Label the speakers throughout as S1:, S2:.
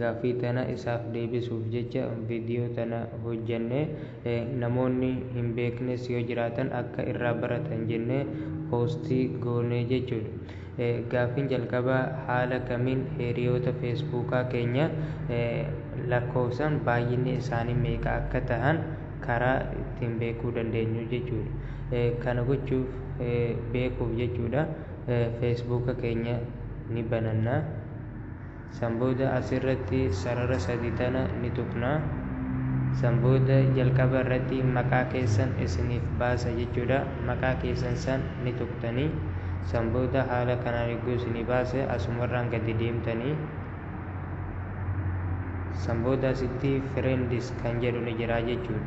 S1: Gaaffii tana isaaf deebisuuf jecha video tana hojjanne. Namoonni hin beeknes yoo jiraatan akka irraa baratan jennee post goone jechuudha. Gaaffiin jalqabaa haala kamiin hiriyoota Feesbuukaa keenya lakkoofsaan baay'inni isaanii meeqa akka tahan karaa ittiin beekuu dandeenyu jechuudha. Kana gochuuf beekuuf jechuudha Feesbuuka keenya ni bananna. San booda as irratti sarara sadii tana ni tuqna. San booda jalqaba irratti maqaa keessan isiniif baasa jechuudha. Maqaa keessan san ni tuqtani. San booda haala kanaan yogguu isinii baase asumarraan gadi deemtani. San booda asitti friends kan jedhu ni jira jechuudha.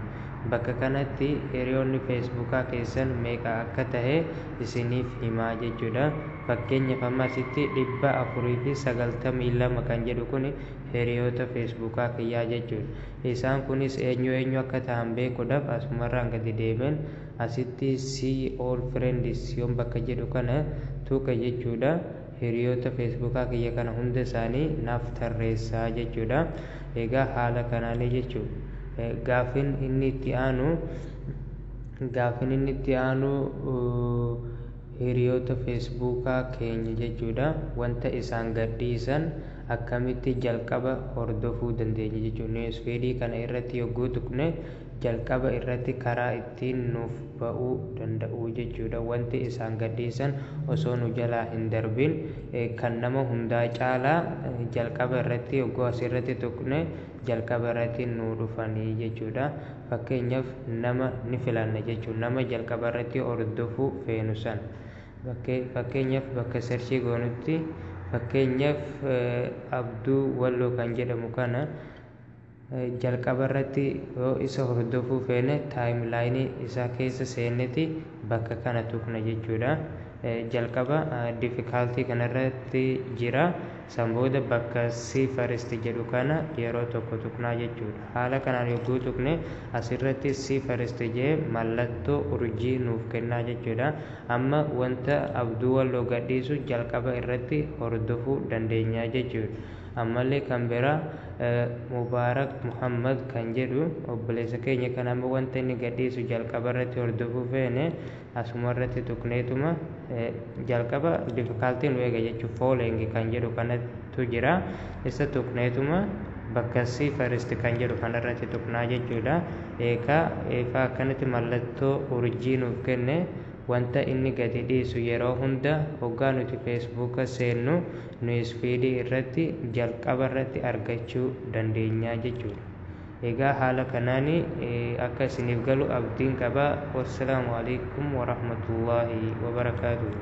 S1: Bakka kanatti hiriyoonni feesbuukaa keessan meeqa akka tahe isiniif himaa jechuudha. Fakkeenyaf amma asitti 492 kan jedhu kuni hiriyoota feesbuukaa kiyyaa jechuudha. Isaan kunis eenyu eenyu akka tahan beekudhaf asumarraan gadi deemeen asitti see all friends yoon bakka jedhu kana tuqe jechuudha hiriyoota feesbuukaa kiyya kana hunda isaanii naaf tarreessa jechuudha. Egaa haala kanaani jechuudha. Gaafin inni itti aanu gaafin inni itti aanu. Hiriyoota Feesbuukaa keenya jechuudha. Wanta isaan gadhiisan akkamitti jalqaba hordofuu dandeenya jechuudha. Newsfeed kana irratti yogguu tuqne jalqaba irratti karaa ittiin nuuf ba'uu danda'u jechuudha. Wanti isaan gadhiisan osoo nu jalaa hin darbin kan nama hundaa caalaa jalqaba irratti yogguu asirratti tuqne jalqaba irratti nuu dhufanii jechuudha. Fakkeenyaf nama ni filanna jechuun nama jalqaba irratti hordofu feenu san bakkee fakkeenyaf bakka search goonutti fakkeenyaf Abduu Walloo kan jedhamu kana jalqaba irratti yoo isa hordofuu feene timeline isaa keessa seenneti bakka kana tuqna jechuudha. Jalqaba difficulty kana irratti jira. San booda bakka see first jedhu kana yeroo tokko tuqnaa jechuudha. Haala kanaan yogguu tuqne asirratti see first jedhee mallattoo urjii nuuf kennaa jechuudha. Amma wanta Abduu Walloo gadhiisu jalqaba irratti hordofuu dandeenya jechuudha. Ammallee kan biraa Mubaarak Muhammad kan jedhu obboleessa keenya kan amma wanta inni gadhiisu jalqaba irratti hordofuu feene Asuma irratti tuqneetuma jalqaba difficulty nu eega jechuuf following kan jedhu kanatu jira. Isa tuqneetuma bakka see first kan jedhu kanarratti tuqnaa jechuudha. Eeka eefa akkanatti mallattoo urjii nuuf kenne wanta inni gadi dhiisu yeroo hunda hoggaa nuti Facebook seennu newsfeed irratti jalqaba irratti argachuu dandeenya jechuudha. Egaa haala kanaani akka isiniif galu abdiin qaba. Wassalaamu Aleykum Warahmatullaahi Wabarakaatuhu.